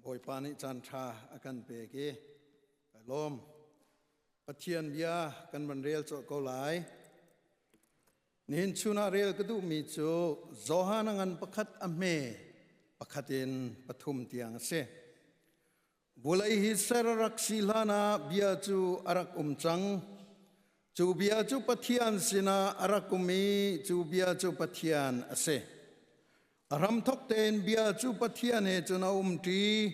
Bawipa nih caanṭha a kan pek i ka lawm. Pathian bia kan van rel cawlh ko lai. Nihin chun ah rel ka duhmi cu Johan a ngan pakhat a hme pakhat in pathum tiang a si. Vulei hi ser a rak si hlan ah bia cu a rak um cang. Cu bia cu Pathian sinah a rak um i cu bia cu Pathian a si. ram thok tein bia cu pathian he cun a um ṭi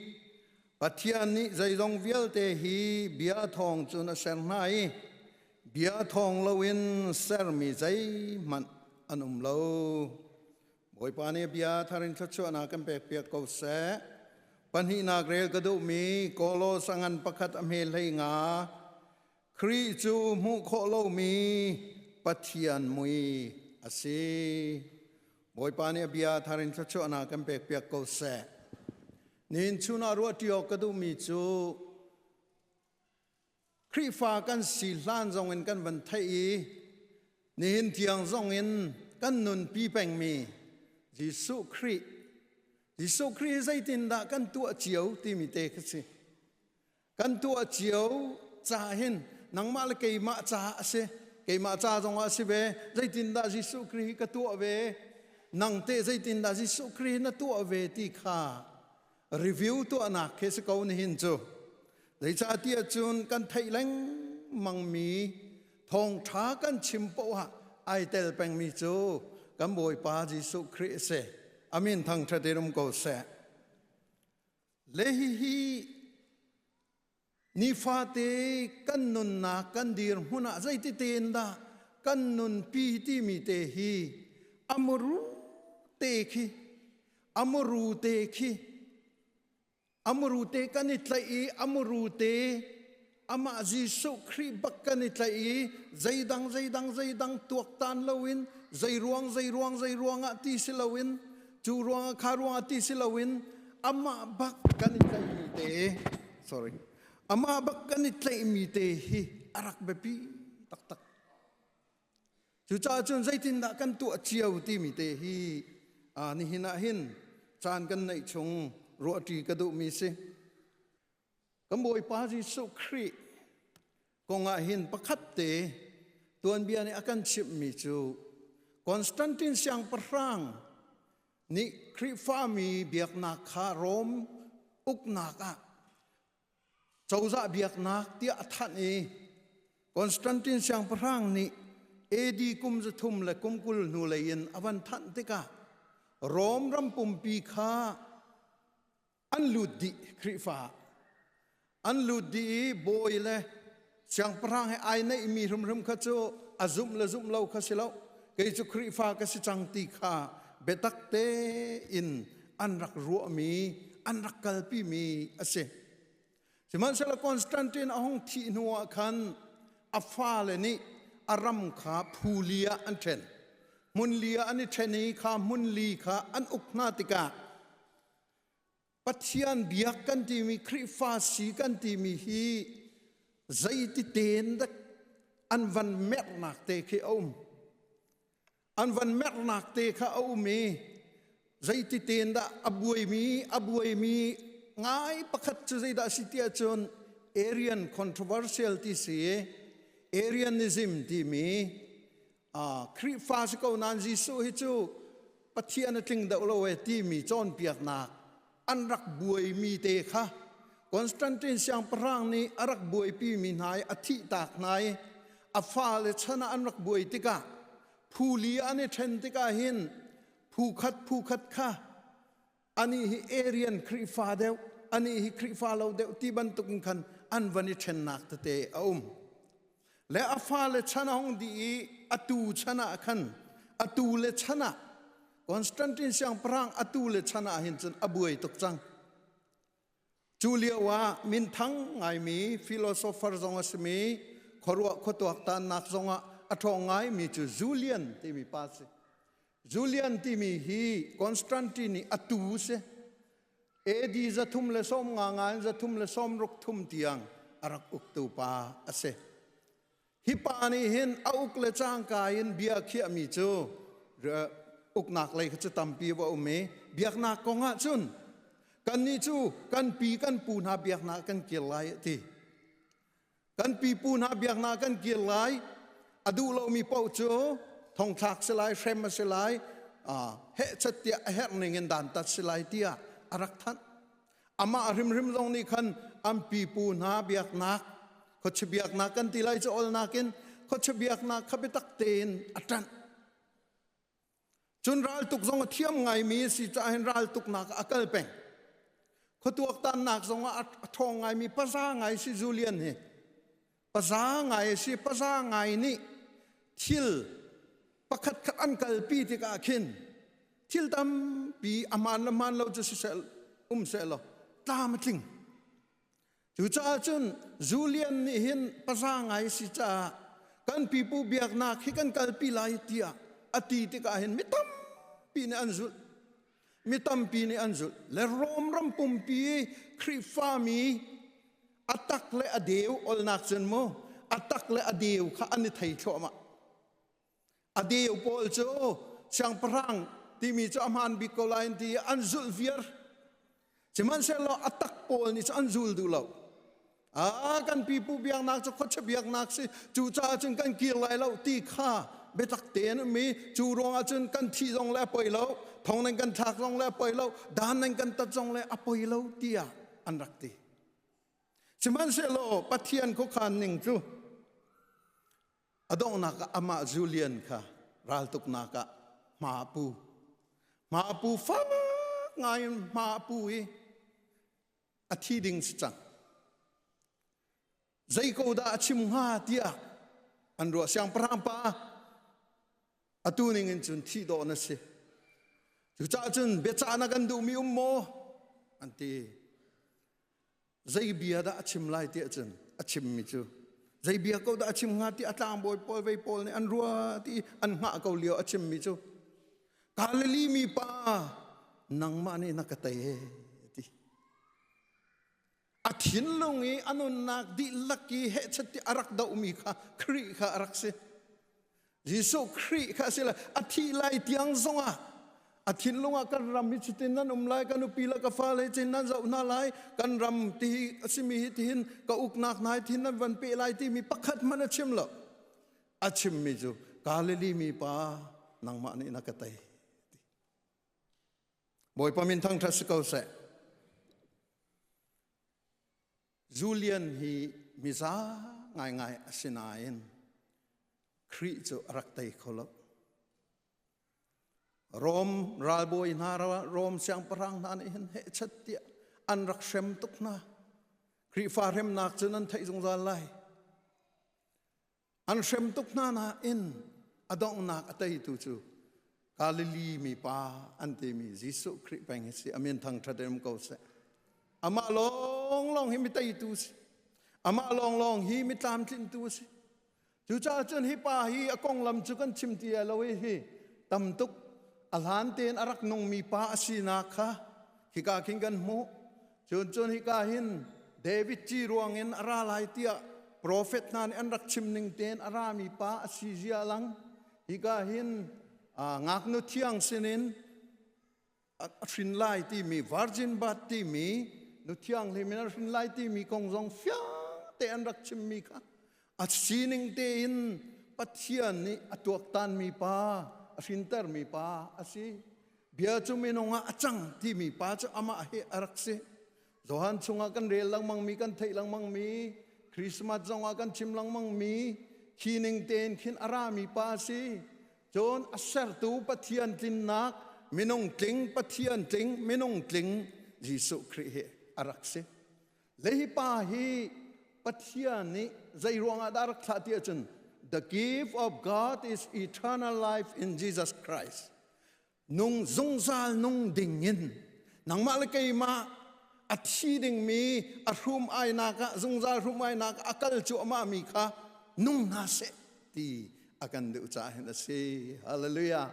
pathian nih zeizong vialte hi bia thawng cun a ser hna i bia thawng loin sermi zeihmanh an um lo bawipa nih bia tharin thluachuahnak kan pek piak ko seh pahnihnak rel ka duhmi kolosa ngan pakhat a hme hlei nga Khrih cu hmuh khawh lomi Pathian mui a si. Bawipa nih a bia thar in thluachuahnak kan pekpiak ko seh. Nihin chunah ruahṭi awk ka duhmi cu Khrihfa kan si hlan zongin kan van theih i nihin tiang zongin kan nunpi pengmi Jesuh Khrih Jesuh Khrih zeitindah kan tuah cio timi te ka si. kan tuah cio ca hin nangmah le keimah ca a si keimah ca zongah a si ve zeitindah Jesuh Khrih ka tuah ve nang te zeitindah Jesuh Khrih na tuah ve ti kha review tuahnak khi si ko nihin cu zeicahtiah cun kan theih lengmangmi thawngṭha kan chim poah ai tel pengmi cu kan Bawipa Jesuh Khrih a si amin thangṭhat i rum ko seh Le hihi nifate kan nunnak kan dirhmun ah zeitite in dah kan nunpi timi te hi amuru te khi amuru te khi amuru te kan i tlaih i amuru te amah Jesuh Khrih bak kan i tlaih i zeidang zeidang zeidang tuaktan loin zeiruang zeiruang zeiruangah ti si loin cu ruangah kha ruangah ti si loin amah bak kan i tlaihmi te sorry amah bak kan i tlaihmi te hi a rak biapi taktak cucaah cun zeitindah kan tuah cio timi te hi aa nihin ah hin caan kan neih chung ruahṭi ka duhmi si Kan Bawipa Jesuh Khrih kong ah hin pakhat te tuanbia nih a kan chimhmi cu Constantine siangpahrang nih Khrihfami biaknak kha Rom uknak ah cozah biaknak tiah a thanh i Constantine siangpahrang nih AD kum zathum le kum kul hnu lei in a van thanh tikah Rom ram pumpi kha an lut dih Khrihfa an lut dih i bawi le siangpahrang he ai neihmi hrimhrim kha cu a zumh le zumh lo kha si lo kei cu Khrihfa ka si cang ti kha biatak te in an rak ruahmi an rak kalpimi a si sihmanhsehlaw Constantine a hung thih hnu ah khan a fale nih a ram kha phuli ah an ṭhen hmun li ah an i ṭhen i kha hmun li kha an uk hna tikah Pathian biak kan timi Khrihfa si kan timi hi zeitite in dek an van mernak te khi a um an van mernak te kha a um i zeitite in dah a buaimi a buaimi ngai pakhat cu zeidah si tiah cun Arian controversial ti si Arianism timi Khrihfa si ko nain Jesuh hi cu Pathian a tling deuh lo e timi cawnpiaknak an rak buaimi te kha Constantine siangpahrang nih a rak buaipi mi hna i a thihtak hna i a fale chan ah an rak buai tikah phuli an i ṭhen tikah hin phu khat phu khat kha ani hi Arian Khrihfa deuh ani hi Khrihfa lo deuh ti bantuk in khan an van i ṭhennak tete a um le a fale chan a hong dih i atu chan ah khan atu le chan ah Constantine siangpahrang atu le chan ah hin cun a buai tuk cang Cu lioah minthang ngaimi philosopher zong a simi khuaruah khuatuak tannak zongah a ṭhawng ngaimi cu Julian timi pa si. Julian timi hi Constantine i a tu si. AD zathum le sawm nga nga in zathum le sawm ruk thum tiang a rak uktu pa a si. Hi pa nih hin a uk le cangka in bia khiahmi cu uknak lei kha cu tampi va um i biaknak kong ah cun kannih cu kan pi kan pu hna biaknak kan kir lai a ti. Kan pipu hna biaknak kan kir lai a duh lomi paoh cu thongthlak si lai hrem a si lai hehchat tiah a herh ning in dantat si lai tiah a rak thanh. amah hrimhrim zong nih khan an pipu hna biaknak khuachia biaknak kan ti lai cu awlnak in khuachia biaknak kha biatak tein a ṭanh cun raltuk zong a thiam ngaimi a si caah hin raltuknak a kal peng khuatuaktannak zong a ṭhawng ngaimi pasa ngai si Julian hi paza ngai si paza ngai nih thil pakhat khat an kalpi tikah khin thil tampi aman le man lo cu sisel um se lo tlam tling cucaah cun Julian nih hin paza ngai si caah kan pipu biaknak hi kan kalpi lai tiah a ti tikah hin mi tampi nih an zulh mi tampi nih an zulh le Rom ram pumpi Khrihfami a tak le a deu olnak cun mu a tak le a deu kha an i thei thluahmah a deu pawl cu siangpahrang timi cu a hmaan bik ko lai ti an zulh viar Sihmanhsehlaw a tak pawl nih cu an zul duh lo. A kan pipu biaknak cu khuachia biaknak si cucaah cun kan kir lai lo ti kha biatak tein um i cu ruangah cun kan thih zong le a poi lo thong nan kan thlak zong le a poi lo dan nan kan tat zong le a poi lo tiah an rak ti sihmanhsehlaw Pathian khuakhan ning cu A donghnak ah amah Julian kha raltuknak ah hma a pu. Hma a pu fak ngai in hma a pu i a thi ding si cang. Zei ko dah a chim hnga tiah an ruah siangpahrang pa atu ning in cun thi dawh na si. Cucaah cun biacahnak an duhmi um maw? an ti. zei bia dah a chim lai ti ahcun a chimmi cu zei bia ko dah a chim hnga ti a tlangbawi pawl vei pawl nih an rua ti an hngah ko lio a chimmi cu Galilee mi pa nangmah nih na ka tei ti a thinlung i a nunnak dihlak i hehchat ti a rak dohmi kha Khrih kha a rak si Jesuh Khrih kha a si lai a thih lai tiang zongah a thinlung ah kan ram hi cutin nan um lai kan upi le ka fale cin nan zoh hna lai kan ram ti a simi hi tihin ka uknak nai thin nan van pe lai timi pakhat hmanh a chim lo a chimmi cu Galilee mi pa nangmah nih na ka tei Bawipa min thangṭhat si ko seh Julian hi miza ngaingai a si nain Khrih cu a rak tei kho lo. Rom ralbawi hna Rom siangpahrang hna nih hin hehchat tiah an rak hrem tuk hna. Khrihfa hremnak cu nan theih zungzal lai. an hrem tuk hna nain a donghnak a teitu cu Galilee mipa an timi Jesuh Khrih peng hi si amin thangṭhat em ko seh amah lawng lawng hi mi teitu si amah lawng lawng hi mi tlamtlintu si cucaah cun hi pa hi a konglam cu kan chim ti lo i hi tam tuk a hlan tein a rak nungmi pa a sinak kha khika khin kan hmuh Cun cun hika hin David ci ruangin a ra lai tiah profet hna nih an rak chim ning tein a rami pa a si zia lang hika hin ngaknu thiang sinin a hrin lai timi virgin birth timi nu thianghlim in a hrin lai timi kong zong fiang te an rak chimmi kha a sining tein Pathian nih a tuaktanmi pa a hrintermi pa a si bia cu minung ah a cang timi pa cu amah he a rak si Johan chungah kan rel lengmangmi kan theih lengmangmi Christmas zongah kan chim lengmangmi khi ning tein khin a rami pa si cun a sertu Pathian tlinnak minung tling Pathian tling minung tling Jesuh Khrih he a rak si Lehi pa hi Pathian nih zei ruangah dah rak thlah ti ahcun the gift of God is eternal life in Jesus Christ. Nung zungzal nung ding in nangmah le keimah a thi dingmi a hrum ainak ah zungzal hrum ainak a kal cuahmah mi kha nung hna seh ti a kan duh caah hin a si. Hallelujah.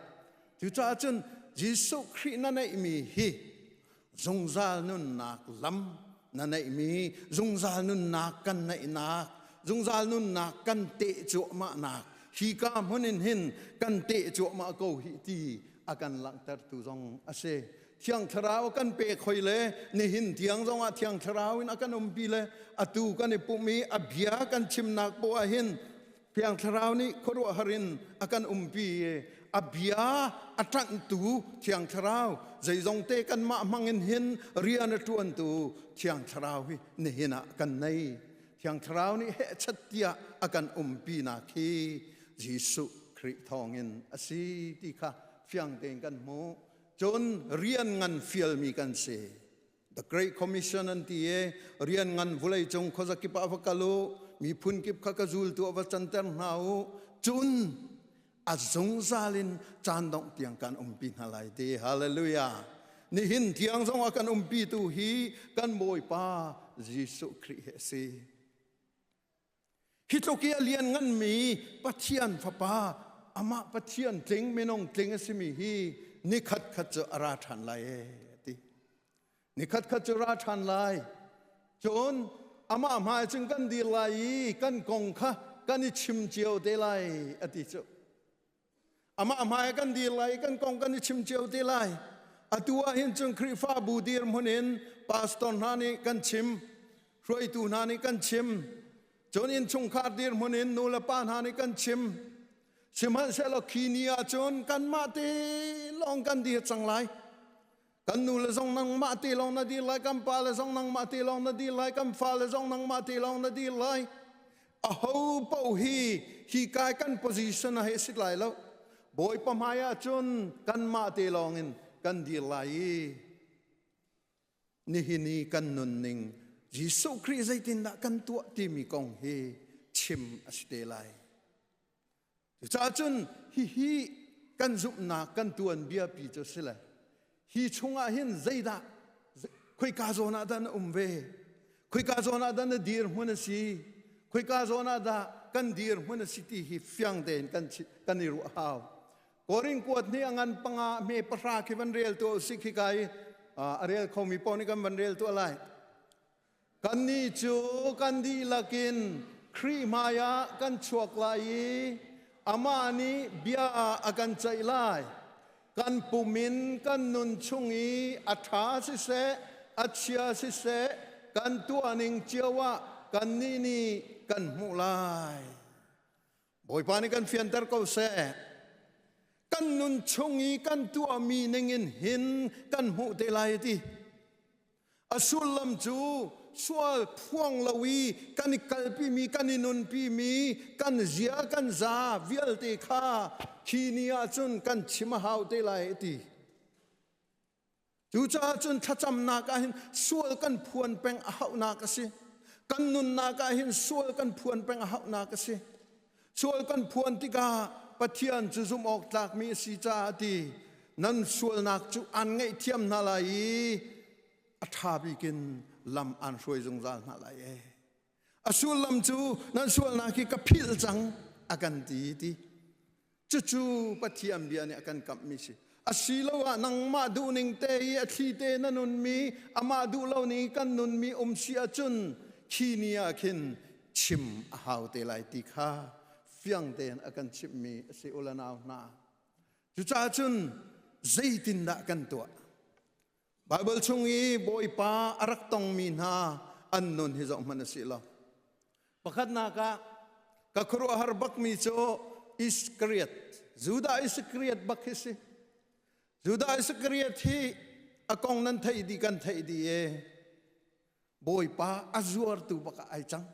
Cucaah cun Jesuh Khrih na neihmi hi zungzal nunnak lam na neihmi zungzal nunnak kan neihnak zungzal nunnak kan te cuahmahnak hi ka hmunin hin kan te cuahmah ko hi ti a kan langhtertu zong a si thiang thlarau kan pe khoi le nihin tiang zong ah thiang thlarau in a kan umpi le atu kan i pum i a bia kan chimnak poah hin Thiang Thlarau nih khuaruahhar in a kan umpi a bia a ṭanhtu Thiang Thlarau zeizong te kanmah hmangin hin rian a ṭuantu Thiang Thlarau hi nihin ah kan nei. Thiang Thlarau nih hehchat tiah a kan umpinak hi Jesuh Khrih thawngin a si ti kha fiang tein kan hmuh. Cun rian ngan fialmi kan si. The Great Commission an ti e rian ngan vulei cung khozakip ah va kal u mi phun kip kha ka zul tu va canter hna u cun a zungzal in caan dongh tiang kan umpi hna lai te hallelujah nihin tiang zong ah kan umpi tu hi kan bawipa Jesuh Khrih he a si Hi tluk i a liannganmi Pathian Fapa, amah Pathian tling minung tling a simi hi ni khatkhat cu a ra ṭhan lai ee, a ti. Ni khatkhat cu ra ṭhan lai. Cun amah hmai cun kan dir lai i kan kong kha kan i chim cio te lai, a ti cu. Amah hmai kan dir lai kan kong kan i chim cio te lai. Atu ahhin cun Khrihfabu dir hmun in pastor hna nih kan chim, hruaitu hna nih kan chim, cun innchungkhar dir hmun in nu le pa hna nih kan chim. Sihmanhsehlaw khi ni ahcun kanmah te lawng kan dir cang lai. kan nu le zong nangmah te lawng na dir lai kan pa le zong nangmah te lawng na dir lai kan fa le zong nangmah te lawng na dir lai a ho paoh hi hi kai kan position a he sit lai lo bawipa hmai ah cun kanmah te lawng in kan dir lai i nihin i kan nunning Jesuh Khrih zeitindah kan tuah timi kong hi chim a si te lai Cucaah cun hihi kan zumhnak kan tuanbiapi cu si le hi chungah hin zeidah khoika zawn ah dah na um ve khoika zawn ah dah na dirhmun a si khoika zawn ah dah kan dirhmun a si ti hi fiang tein kan kan i ruah hau koring kuat ni a ngan panga me pahra khi van rel tu si khi kai a rel khomi pawng nih kan van rel tu lai Kannih cu kan dihlak in Khrih hmaiah kan chuak lai i amah nih bia ah a kan ceih lai. Kan pum in kan nun chung i a ṭha siseh, a chia siseh, kan tuahning cio ah kannih nih kan hmuh lai. Bawipa nih kan fianter ko seh. Kan nun chung i kan tuahmi ningin hin kan hmuh te lai ti. A sullam cu sual phuang lo i kan i kalpimi, kan i nunpimi, kan zia, kan za vialte kha khi ni ah cun kan chim a hau te lai ti. Cucaah cun thlacamnak ah hin sual kan phuan peng a hauhnak a si. Kan nunnak ah hin sual kan phuan peng a hauhnak a si. Sual kan phuan tikah Pathian cu zumh awk tlakmi a si caah ti nan sualnak cu an ngaihthiam hna lai i a ṭha bikin lam an hruai zungzal hna lai ee. a sullam cu nan sualnak hi ka philh cang a kan ti ti cucu pathian bia nih a kan kamhmi si asiloah nangmah duhning te i a thli te na nunmi amah duh lo ning kan nunmi um si ahcun khi ni ah khin chim a hau te lai ti kha fiang tein a kan chimhmi a si ulanau hna cucahcun zeitindah kan tuah Baibal chung i Bawipa a rak tongmi hna an nun hi zoh hmanh a si lo. Pakhatnak ah, ka khuaruahhar bakmi cu Iskariot, Judah Iskariot bak hi si. Judah Iskariot hi a kong nan theih dih kan theih dih i Bawipa a zuartu bak ah ai cang.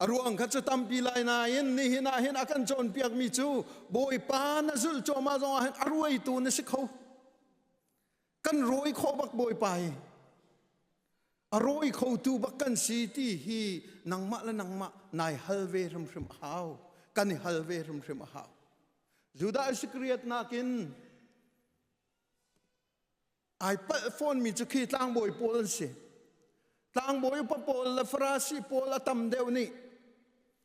A ruang kha cu tampi lai nain nihin ah hin a kan cawnpiakmi cu Bawipa na zulh cuahmah zong ah hin a ruaitu na si kho. Kan rawi khawh bak Bawipa i a rawi khotu bak kan si ti hi nangmah le nangmah nai hal ve hrimhrim a hau. Kan i hal ve hrimhrim a hau. Judah Iskariot nakin Ai palh fawnmi cu khi tlangbawi pawl an si. Tlangbawi upa pawl le Farasi pawl a tam deuh nih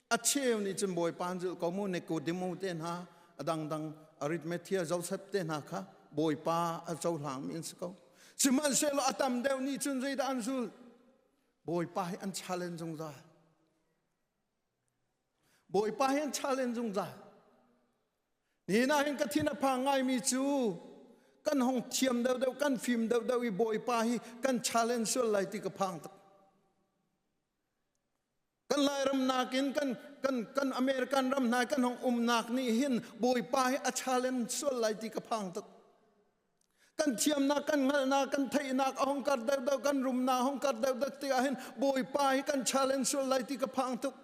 a cheu nih cun Bawipa an zulh ko mu Nikodemu te hna a dangdang Aritmathia Joseph te hna kha Bawipa a cohlangmi an si ko. Sihmanhsehlaw a tam deuh nih cun zeidah an zulh? Bawipa hi an challenge zungzal. Bawipa hin challenge zungzal nina hin ka thin a phang ngaimi cu kan hong thiam deuhdeuh kan fim deuhdeuh i bawipa hi kan challenge sual lai ti ka phang tak kan lairam nakin kan kan kan american ram nai kan hong umnak nih hin bawipa hi a challenge sual lai ti ka phang tak kan thiamnak kan hngalhnak kan theihnak a hong kar deuhdeuh kan rumnak a hong kar deuhdeuh tikah hin bawipa hi kan challenge sual lai ti ka phang tuk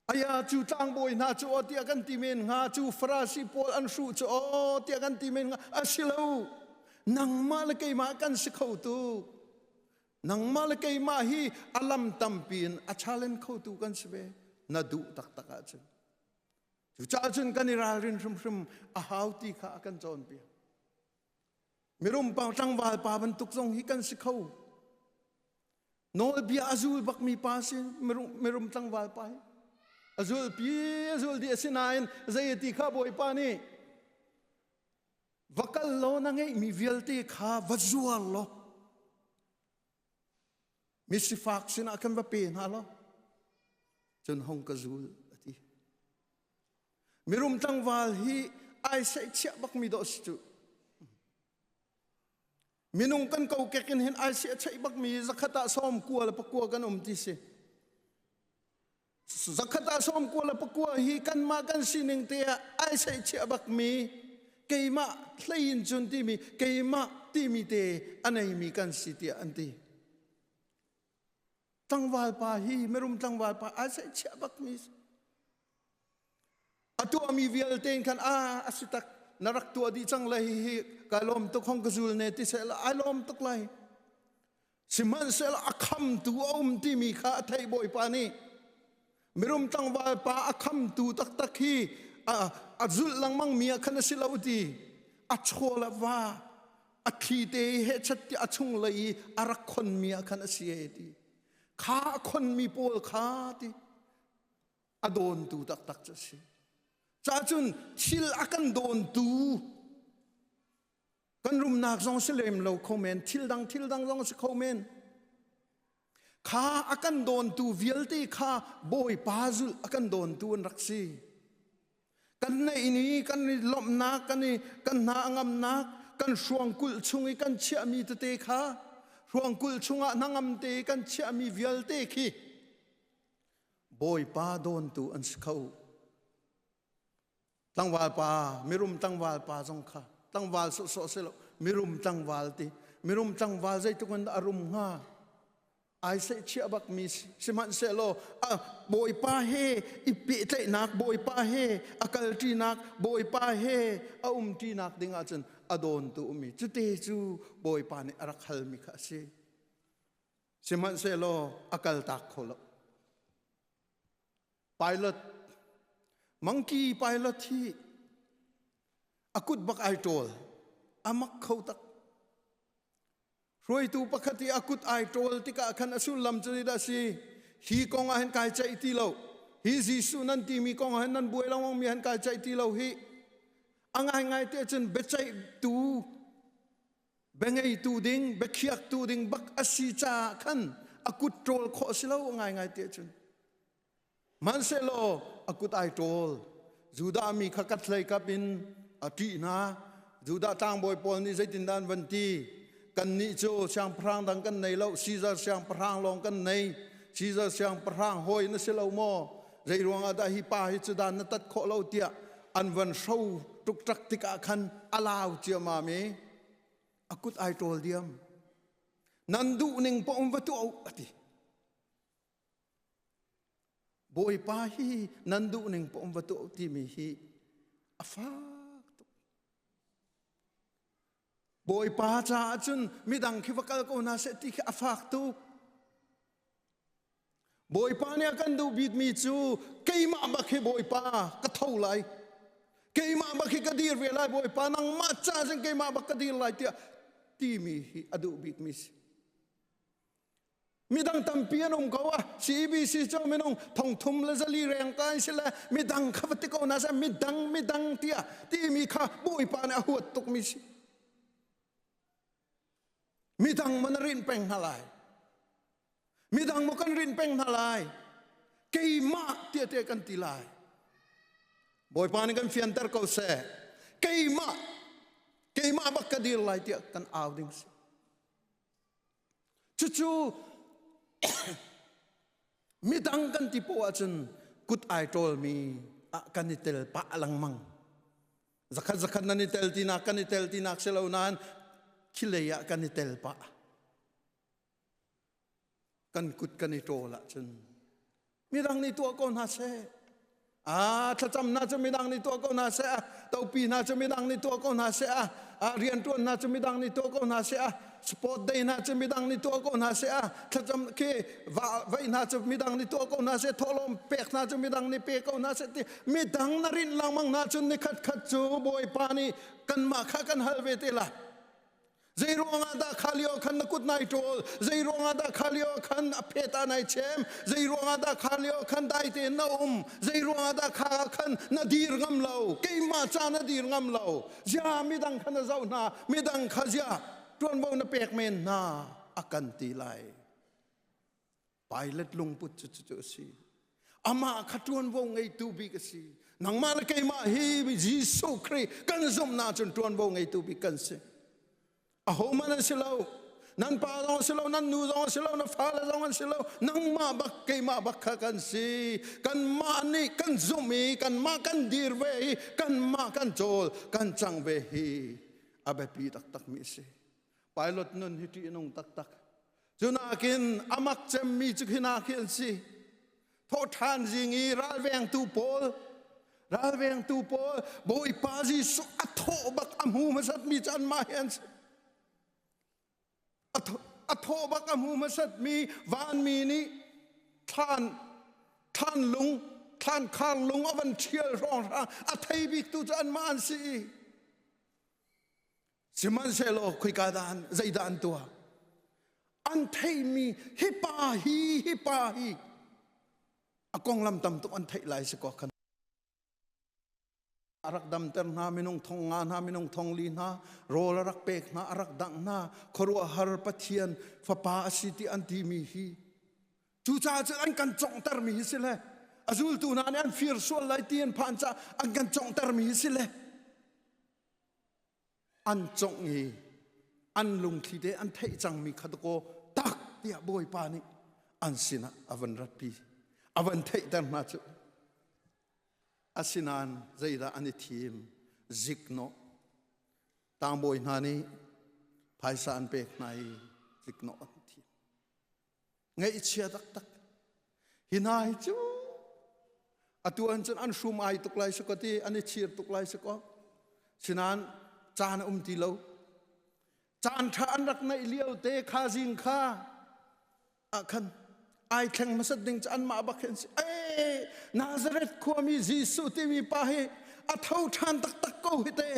aya cu tlangbawi hna cu aw tiah kan ti men hnga cu farasi pawl an hruh cu aw tiah kan ti men hnga a si lo nangmah le keimah kan si kho tu nangmah le keimah hi alam tampi in a challenge khotu kan si ve na duh taktak ahcun Cucaah cun kan i ralrin hrimhrim a hau ti kha a kan cawnpiak. Mirum pang tlangval pa bantuk zong hi kan si kho. Nawlbia a zul bakmi pa si mirum, mirum tlangval pa hi. A zul pi a zul di a si nain zei ti kha bawipa nih va kal law na ngeihmi vialte kha va zuar law Misifak sinah kan va pe hna law cun hong ka zul a ti. Mirum tlangval hi ai sei chiah bakmi dawh si cu. Minung kan kokek in hin ai si a cheih bakmi zakhat ah sawm kua le pakua kan um ti si. zakhat ah sawm kua le pakua hi kanmah kan sining te ah ai sei chia bak mi keimah hlein cun timi keimah timi te aneimi kan si tiah an ti tlangval pa hi merum tlangval pa ai sei chia bak mi A tuahmi vialte in khan a a si tak na rak tuah dih cang lai hi ka lawm tuk hong ka zul ne ti sehla ai lawm tuk lai sihmanhsehlaw a khamtu a um timi kha a theih bawipa nih mirum tlangvalpa a khamtu taktak hi a, a zulh lengmang mi ah khan a si lo ti a chual a va a thli te i hechat ti a chung lei i a rak khon mi ah khan a si e ti kha a khon mi pawl kha ti a dawntu taktak cu a si cahcun thil a kan dawntu kan rumnak zong si lem lo kho men thil dang thil dang zong si kho men kha a kan dawntu vialte kha bawipa zulh a kan dawntu an rak si kan neih ni kan i lomhnak kan i kan hna ngamnak kan hruangkulh chung i kan chiahmi tete kha hruangkulh chungah hnangam te kan chiahmi vialte khi Bawipa dawntu an si kho. Tangwal pa, mirum tangwal pa zong kha tangwal sawhsawh si lo, mirum tangwal ti. Mirum tangwal zeituk in a rum hnga? Ai sei chia bak mi si. Sihmanhsehlaw, a, Bawipa he i pehtlaihnak Bawipa he, a kalṭinak Bawipa he, a umṭinak ding ahcun a dawntu ummi. Cute cu Bawipa nih a rak halmi kha a si. sihmanhsehlaw a kaltak kho lo pilot monkey pilot hi a kut bak ai ṭawl a mak kho tak hruaitu pakhat i a kut ai ṭawl tikah khan a sullam cu dah si hi kong ah hin kai ceih ti lo hi Jesuh nan timi kong ah hin nan buai lawng mi han kai ceih ti lo hi a ngai ngai te cun biaceih tu Biangeitu ding, biakhiaktu ding bak a si caah khan a kut ṭawl khawh si lo ngaingai te cun. Manhsehlaw a kut ai ṭawl. Judah mi kha kat hlei kap in a ṭih hna. Judah tlangbawi pawl nih zeitindah an van ti? Kannih cu siangpahrang dang kan nei lo, Caesar siangpahrang lawng kan nei. Caesar siangpahrang hawi na si lo maw? Zei ruangah dah hi pa hi cu dan na tat khawh lo tiah an van hro tuktak tikah khan a lau ciamam i a kut ai ṭawl diam nan duh ning pong va tuah a ti bawipa hi nan duh ning pong va tuah timi hi a fak tuk Bawipa caah cun midang khi va kal ko hna seh ti khi a fak tuk. Bawipa nih a kan duh bikmi cu keimah bak hi Bawipa ka tho lai. Keimah bak hi ka dir ve lai Bawipa nangmah caah cun keimah bak ka dir lai tiah timi hi a duh bikmi si. Midang tampi an um ko a CEBC cu minung thongthum le zali reng ka an si le midang kha va ti ko na sa midang midang tiah timi kha bawipa nih a huat tuk mi si midang man a rin peng hna lai midang mo kan rin peng hna lai keimah tiate kan ti lai bawipa nih kan fianter ko seh keimah keimah bak ka dir lai tiah kan au ding si Cucu midang kan ti po ahcun kut ai ṭawlmi ah kan i tel pah lengmang. Zakhat zakhat nan i tel tinak kan i tel tinak si lo nain khilei ah kan i tel pah. Kan kut kan i ṭawl ahcun midang nih tuah ko hna seh a thlacam hna cu midang nih tuah ko hna seh a topi hna cu midang nih tuah ko hna seh a a riantuan hna cu midang nih tuah ko hna seh a sport day hna cu midang nih tuah ko hna seh a thlacam khi vai hna cu midang nih tuah ko hna seh thawhlawm pek hna cu midang nih pe ko hna seh ti midang na rinh lengmang hna cun ni khat khat cu bawipa nih kanmah kha kan hal ve te la Zei ruangah dah kha lio khan na kut nai ṭawl? Zei ruangah dah kha lio khan a phet ah nai chem? Zei ruangah dah kha lio khan dai tein na um? Zei ruangah dah kha khan na dir ngam lo? Keimah ca na dir ngam lo. Zia midang kha na zoh hna, midang kha zia ṭuanvo na pek men hna, a kan ti lai. Pilot lungput cu cu a si. Amah kha ṭuanvo ngeitu bik a si. Nangmah le keimah hi Jesuh Khrih kan zumhnak cun ṭuanvo ngeitu bik kan si. Ahohmanh an si lo. Nan pa zong si lo, nan nu zong si lo, na fale zong an si lo. Nangmah bak, keimah bak kha kan si. Kanmah nih kan zumh i kanmah kan dir ve i kanmah kan cawl, kan cang ve hi a biapi taktakmi a si. Pilot nun hi ṭihnung taktak. Cunakin amak cemmi cu khina khi an si. Thawhṭhan zing i ralvengtu pawl ralvengtu pawl Bawipa Jesuh a thawh bak a hmu hmasatmi cu anmah hi an si. A thawh bak a hmu hmasatmi vanmi nih thlan thlan lung thlan khar lung a van ṭhial hrawng hrang a thei biktu cu anmah an si. Sihmanhsehlaw khoika dah an, zeidah an tuah? An theihmi hipa hi hipa hi a konglam tam tuk an theih lai si ko kan a rak damter hna minung thong nga hna minung thong li hna rawl a rak pek hna a rak dangh hna khuaruahhar pathian fapa a si ti an timi hi cucaah cu an kan conghtermi hi si le a zultu hna nih an fir sual lai ti an phan ca an kan conghtermi hi si le an congh i an lungthli te an theih cangmi kha dakaw tak tiah bawipa nih an sinah a van ratpi a van theihter hna cu asinain zeidah an i thim ziknawh tangbawi hna nih phaisa an pek hna i ziknawh an thi Ngaihchia taktak. Hi hna hi cu atu an cun an hrum ai tuk lai sako ti an i chir tuk lai sako. Sinan caan a um ti lo. Caan ṭha an rak naih lio te kha zing kha ah khan ai thleng masat ding cu anmah bak hin si. Ee Nazareth khuami Jesuh timi pa hi a tho ṭhan taktak ko hi te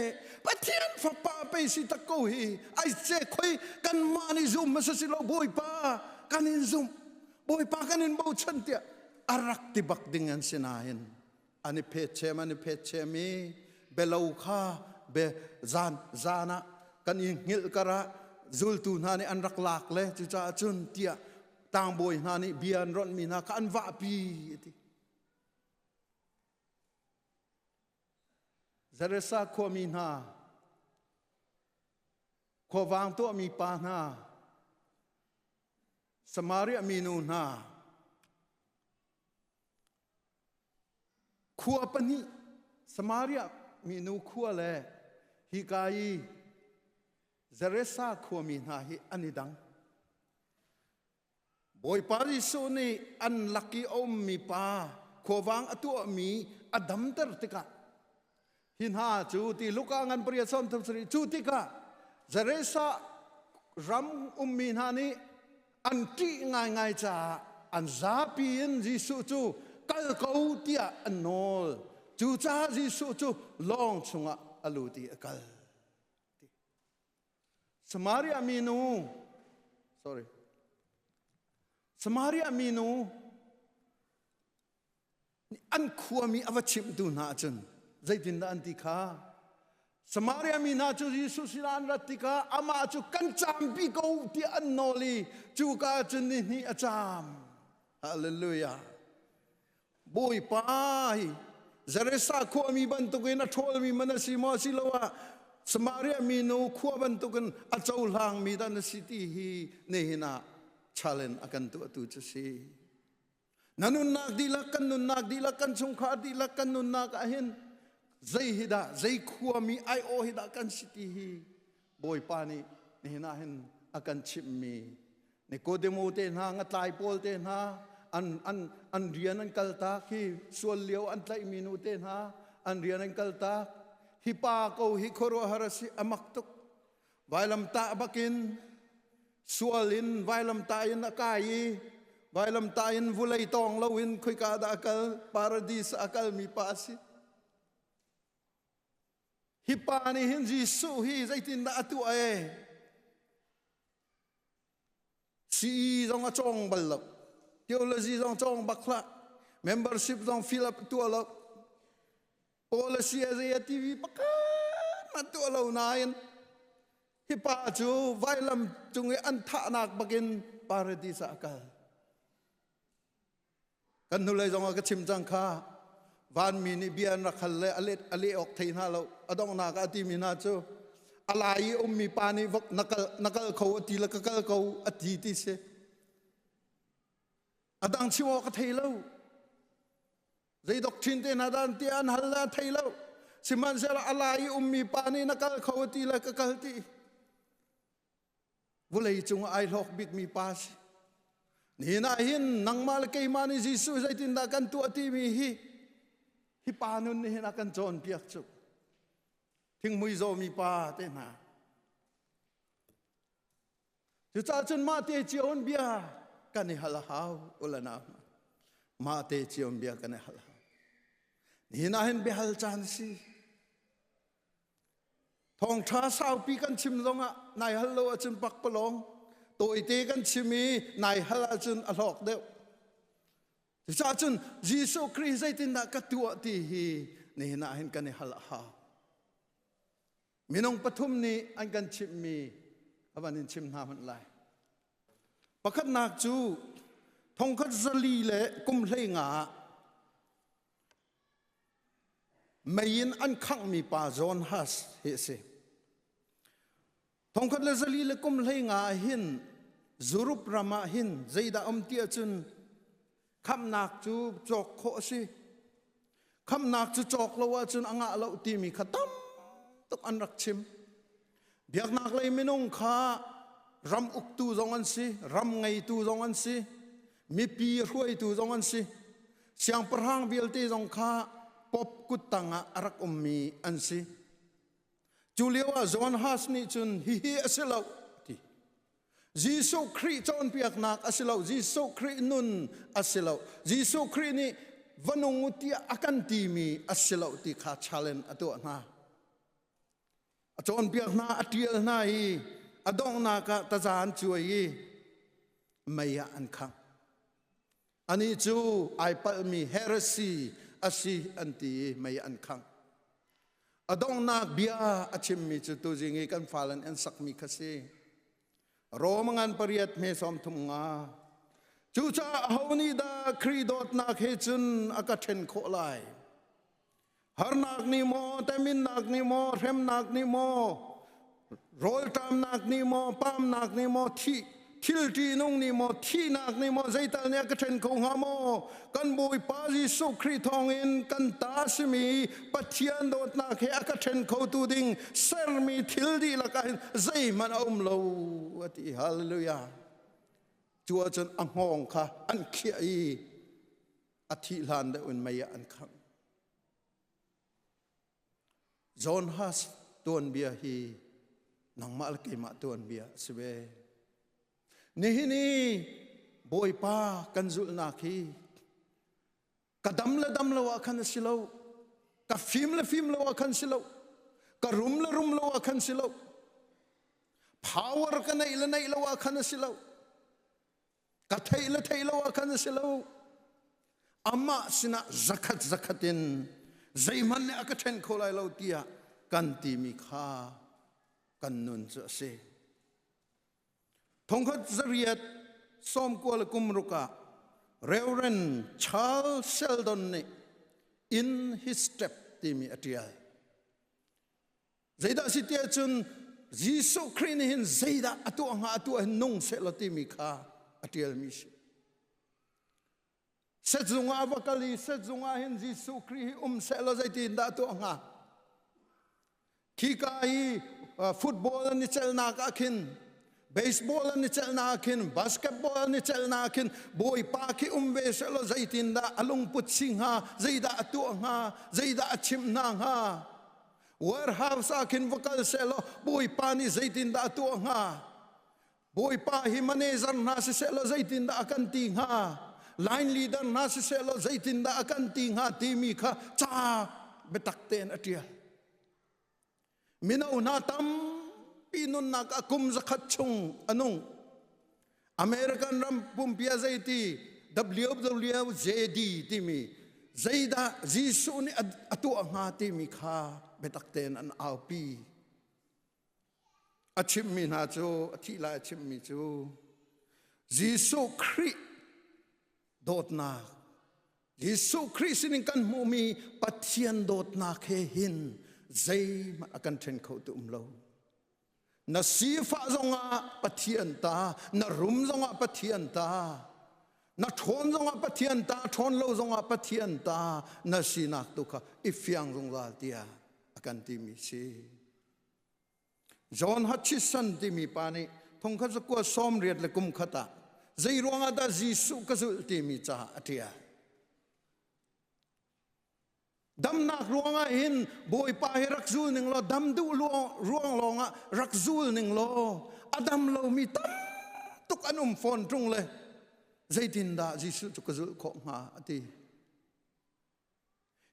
pathian fapa pei si tak ko hi ai se khoi kanmah nih zum hmasa si lo bawipa kan in zum bawipa kan in bochan tiah a rak ti bak ding an si nain an i phet chem an i phet chem i belo kha be zan zan ah kan i ngil kara zultu hna nih an rak lak le cucaah cun tiah tangbawi hna nih bia an ron mi hna kha an vahpi ti Zaresa khuami hna, khuavang tuahmi pa hna, Samaria minu hna, khua pahnih Samaria minu khua le hika i Zaresa khuami hna hi an i dang. Bawipa Jesuh nih an lak i a ummi pa khuavang a tuahmi a damter tikah hi hna cu ti Luka ngan pariat sawm thum sarih cu tikah Zaresa ram ummi hna nih an ṭih ngaingai caah an zapi in Jesuh cu kal ko tiah an nawl cucaah Jesuh cu lawng chungah a lut i a kal Samaria minu sorry Samaria minu an khuami a va chimhtu hna ahcun zeitindah an ti kha Samaria mi hna cu Jesuh sila an rat tikah amah cu kan campi ko tiah an nawl i cuka cun ni hnih a caam. Hallelujah. Bawipa hi Zaresa khuami bantukin a ṭhawlmi man a si maw a si lo ah Samaria minu khua bantukin a cohlangmi dan a si ti hi nihin ah challenge a kan tuahtu cu si. Na nunnak dihlak kan nunnak dihlak kan chungkhar dihlak kan nunnak ah hin zei hi dah zei khuami aiawh hi dah kan si ti hi Bawipa nih nihin ah hin a kan chimhmi Nikodemo te hna ngatlai pawl te hna an an an rian an kaltak hi sual lio an tlaihmi nu te hna an rian an kaltak hi pa ko hi khuaruahhar a si a mak tuk vailamtah bakin sual in vailamtah in a kai i vailamtah in vulei tawng loin khoika dah a kal paradis a kalmi pa a si Hi pa nih hin Jesuh hi zeitindah a tuah e? Si zong a cawng bal lo. Theology zong cawng bak hlah. Membership zong fill up tua lo. Policy a zei a TV pakhat ma tua lo nain hi pa cu vailam cung i an thahnak bakin paradis ah a kal. kan hnulei zongah ka chim cang kha vanmi nih bia an rak hal le a let a leh awk thei hna lo a donghnak a timi hna cu a lai i ummi pa nih vok na kal na kal ko a ti le ka kal ko a ti ti si a dang chim awk a thei lo zei doctrine te hna dan ti an hal na thei lo sihmanhsehlaw a lai i ummi pa nih na kal kho ti le ka kal ti vawlei cung ai hlawk bikmi pa si ni na hin nangmah le keimah nih Jesuh zeitindah kan tuah timi hi hi pa nun nih hin a kan cawn piak cu thingmui zawmi pa te hna cucahcun mah te cio hun bia kan i hal a hau ulana mah te cio bia kan i hal hau ni na hin biahal caan si Thawngṭha saupi kan chim zongah nai hal lo ahcun pakpalawng tawite kan chim i nai hal ahcun a hlawk deuh. Cucaah cun Jesuh Khrih zeitindah ka tuah ti hi nihin ah hin kan i hal a hau. Minung pathum nih an kan chimhmi a van in chim hna hmanh lai. Pakhatnak cu thongkhat zali le kum hleinga ah Mei in an khanghmi pa John Huss hi a si. Thongkhat le zali le kum hlei nga ah hin Zurup ram ah hin zeidah um ti ahcun khamnak cu cawk khawh a si. Khamnak cu cawk lo ahcun a ngah lo timi kha tam tuk an rak chim. Biaknaklei minung kha ram uktu zong an si, ram ngeitu zong an si, mipi hruaitu zong an si. Siangpahrang vialte zong kha pop kuttang ah a rak ummi an si. Cu lio ah John Huss nih cun hihi a si lo a ti. Jesuh Khrih cawnpiaknak a si lo, Jesuh Khrih nun a si lo, Jesuh Khrih nih va nung u tiah a kan timi a si lo ti kha challenge a tuah hna. a cawnpiak hna a ṭial hna i a donghnak ah taza an cuai i mei ah an khang anih cu ai palhmi heresy asi an ti i mei an khang a donghnak bia a chimmi cu tuzing i kan fale nih an sakmi kha si rom ngan pariat hme som thum nga cucaah aho nih dah Kri dawtnak he cun a ka ṭhen khawh lai harnak nih maw teminnak nih maw hremnak nih maw rawlṭamnak nih maw pamnak nih maw thih thil ṭihnung nih maw thihnak nih maw zeital nih a ka ṭhen kho hnga maw kan bawipa jesuh khrih thawngin kan ta simi pathian dawtnak he a ka ṭhen khotu ding sermi thil dihlak ah hin zeihmanh a um lo a ti hallelujah cu ahcun a nghawng kha an khiah i a thih hlan deuh in mei ah an khangh. John Has tuanbia hi nangmah le keimah tuanbia a si ve. Nihin i Bawipa kan zulhnak hi ka dam le dam lo ah khan a si lo. Ka fim le fim lo ah khan si lo. Ka rum le rum lo ah khan si lo. Power ka neih le neih lo ah khan a si lo. ka theih le theih lo ah khan a si lo amah sinah zakhat zakhat in zeihmanh nih a ka ṭhen kho lai lo tiah kan timi kha kan nun cu a si thongkhat zariat sawmkua le kumruk ah Reverend Charles Sheldon nih in his step timi a ṭial Zeidah si tiah cun Jesuh Khrih nih hin zeidah a tuah hnga a tuah hin nung sehlaw timi kha a ṭialmi si. Set zungah va kal i set zungah hin Jesuh Khrih hi um sehlaw zeitin dah tuah hnga? Khika i football an i celnak ah khin baseball an i celnak ah khin basketball an i celnak ah khin bawipa khi um ve sehlaw zeitin dah a lungput si hnga zeidah a tuah hnga zeidah a chimh hna hnga warehouse ah khin va kal selaw bawipa nih zeitindah a tuah hnga bawipa hi manager hna si selaw zeitindah a kan ti hnga line leader hna si selaw zeitindah a kan ti hnga timi kha ca biatak tein a ṭial mino hna tampi nunnak a kum zakhat chung a nung American ram pumpia zeiti WWJD timi zeidah Jesuh nih a tuah hnga timi kha biatak tein an aupi. A chimmi hna cu, a thih lai a chimmi cu, Jesuh Khrih dawtnak, Jesuh Khrih sinin kan hmuhmi Pathian dawtnak he hin zeihmanh a kan ṭhen kho ti um lo. na sifah zongah pathian ta na rum zongah pathian ta na ṭhawn zongah pathian ta ṭhawn lo zongah pathian ta na sinak tu kha i fiang zungzal tiah a kan timi si John Hutchison timi pa nih thongkhat zakua sawm riat le kum khat ah zei ruangah dah Jesuh ka zulh timi caah a ṭial damnak ruangah hin bawipa hi rak zul ning law dam duh ruang lawngah rak zul ning law a dam lomi tam tuk an um fawn ṭung le zeitindah Jesuh cu ka zulh khawh hnga a ti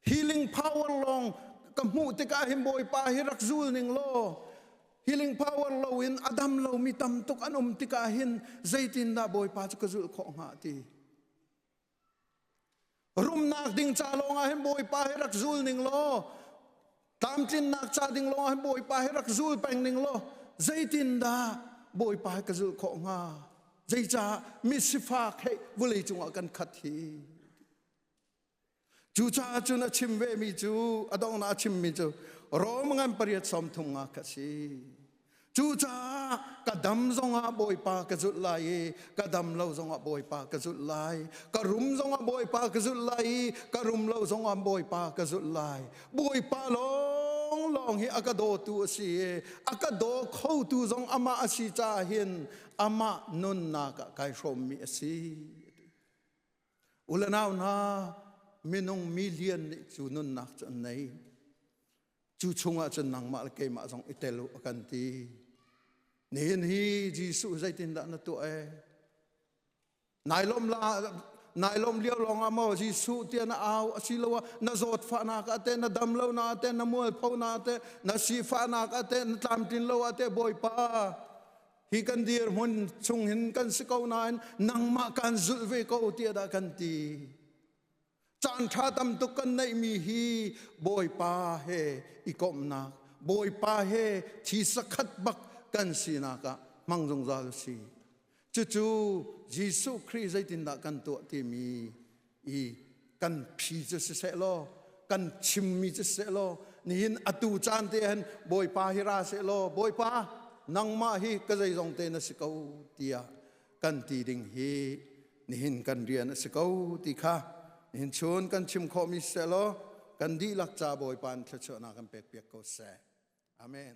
healing power lawng ka hmuh tikah hin bawipa hi rak zul ning law healing power lo in a dam lomi tam tuk an um tikah hin zeitindah bawipa cu ka zulh khawh hnga ti Rumnak ding ca lawngah hin Bawipa he rak zul ning law tlamtlinnak ca ding lawngah hin Bawipa he rak zul peng ning law zeitindah Bawipa he ka zulh khawh hnga zeicah misifak he vawlei cungah kan khat hi cu caah cun a chim vemi cu a donghnak a chimmi cu Rom ngan pariat sawm thum nga kha si Cucaah ka dam zongah Bawipa ka zulh lai i ka dam lo zongah Bawipa ka zulh lai. Ka rum zongah Bawipa ka zulh lai i ka rum lo zongah Bawipa ka zulh lai. Bawipa lawng lawng hi a ka dawtu a si i a ka daw khotu zong amah a si caah hin amah nunnak ah kai hrawmmi a si. Ulanau hna, minung milian nih cu nunnak cu an nei. cu chungah cun nangmah le keimah zong i tel u a kan ti nihin hi jesuh zeitindah na tuah e nailawm la nailawm lio lawngah maw jesuh tia na au asiloah na zawtfahnak ah te na dam lo na te na mualpho na te na sifahnak ah te na tlamtlin lo ah te bawipa hi kan dir hmun chung hin kan si ko nain nangmah kan zulh ve ko tiah dah kan ti Caan ṭha tam tuk kan neihmi hi Bawipa he i komhnak, Bawipa he thi sakhat bak kan sinak ah hmang zungzal u si. Cucu Jesuh Khrih zeitindah kan tuah timi i kan phi cu siseh law, kan chimmi cu siseh law, nihin atu caan te hen Bawipa hi ra seh law, Bawipa nangmah hi ka zeizong te na si ko tiah kan ti ding hi nihin kan rian a si ko ti kha nihin chun kan chim khawhmi selaw kan dihlak ca bawi pan thluachuahnak kan pek piak ko seh amen